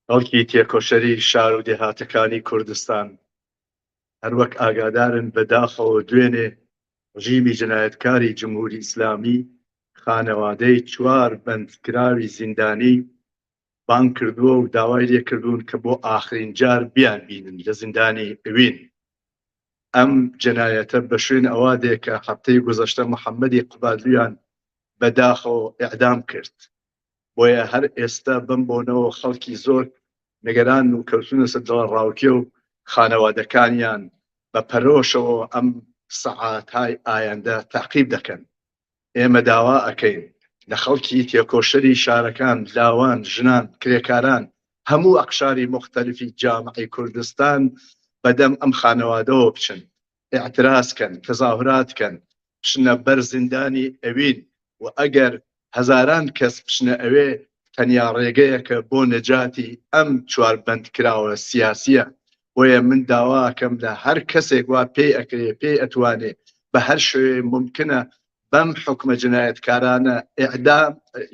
خەڵکی تێکۆشەری شار و دێهاتەکانی کوردستان هەر وەک ئاگادارن بە داخەوە دوێنێ ڕژیمی جنایەتکاری جمهوری ئیسلامی خانەوادەی چوار بەندکراوی زیندانی بانگ کردووە و داوای لێ کردوون کە بۆ ئاخرین جار بیان بینن لە زیندانی ئوین. ئەم جەنایەتە بە شوێن ئەوە دێ کە هەفتەی گوزەشتە محەمەدی قبادلویان بە داخەوە ئێعدام کرد. بۆیە هەر ئێستا بەم بۆنەوە خەڵکی زۆر نگەرانن و کەوتوونەسە دڵەڕاوکێ و خانەوادەکانیان بە پەرۆشەوە ئەم سەعاتای ئایەندە تاقیب دەکەن. ئێمە داوا ئەکەین لە خەڵکی تێکۆشەری شارەکان، لاوان، ژنان، کرێکاران، هەموو ئەقشاری موختەلفی جامعەی کوردستان بە دەم ئەم خانەوادەوە بچن، ئیعتراز کەن، تەزاهورات کەن، بچنە بەر زیندانی ئەوین و ئەگەر هەزاران کەس بچنە ئەوێ، تەنیا ڕێگەیەکە بۆ نەجاتی ئەم چوار بەندکراوە سیاسییە بۆیە من داوا ئەکەم لە هەر کەسێک وا پێی ئەکرێ پێی ئەتوانێ بە هەر شوێ ممکنە بەم حکومە جنایەتکارانە ئعدام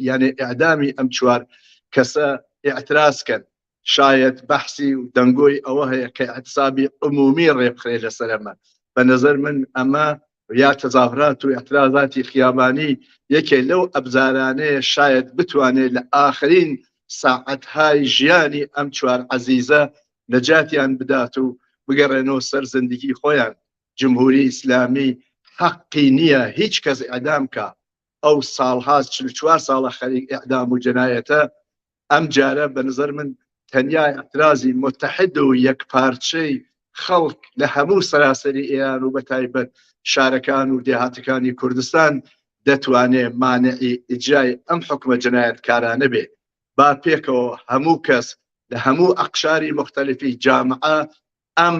یانێ ئعدامی ئەم چوار کەسە ئاعتراسکەن شاید بەحسی و دەنگۆی ئەوە هەیە کە ئەتسابی عمومی ڕێبخرێ لەسەرمە بە نظر من ئەمە یا تەزاهرات و ئیعترازاتی خیابانی یەکێ لەو ئەبزارانەیە شایەد بتوانێ لە ئاخرین ساعەتهای ژیانی ئەم چوار عەزیزە نەجاتیان بدات و بگەڕێنەوە سەر زندگی خۆیان جمهوری ئیسلامی حەقی نییە هیچ کەس ئیعدام کا ئەو ساڵها چل و چوار ساڵە خەریک ئیعدام و جەنایەتە ئەم جارە بە نظر من تەنیا ئەترازی متحد و یەک پارچەی خەڵک لە هەموو سەراسەری ئێران و بە تایبەت شارەکان و دێهاتەکانی کوردستان دەتوانێ مانعی ئیجای ئەم حکومە جنایەتکارانە بێ با پێکەوە هەموو کەس لە هەموو ئەقشاری مختلفی جامعە ئەم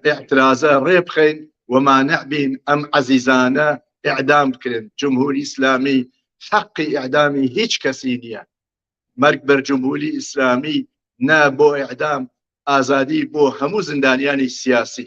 ئاعترازە ڕێ بخەین ومانە بین ئەم عزیزانە ئعدام بکرێن جمهوری ئیسلامی حەقی ئعدامی هیچ کەسی نییە مەرگ بەر جمهوری ئیسلامی نە بۆ ئعدام ئازادی بۆ هەموو زیندانیانی سیاسی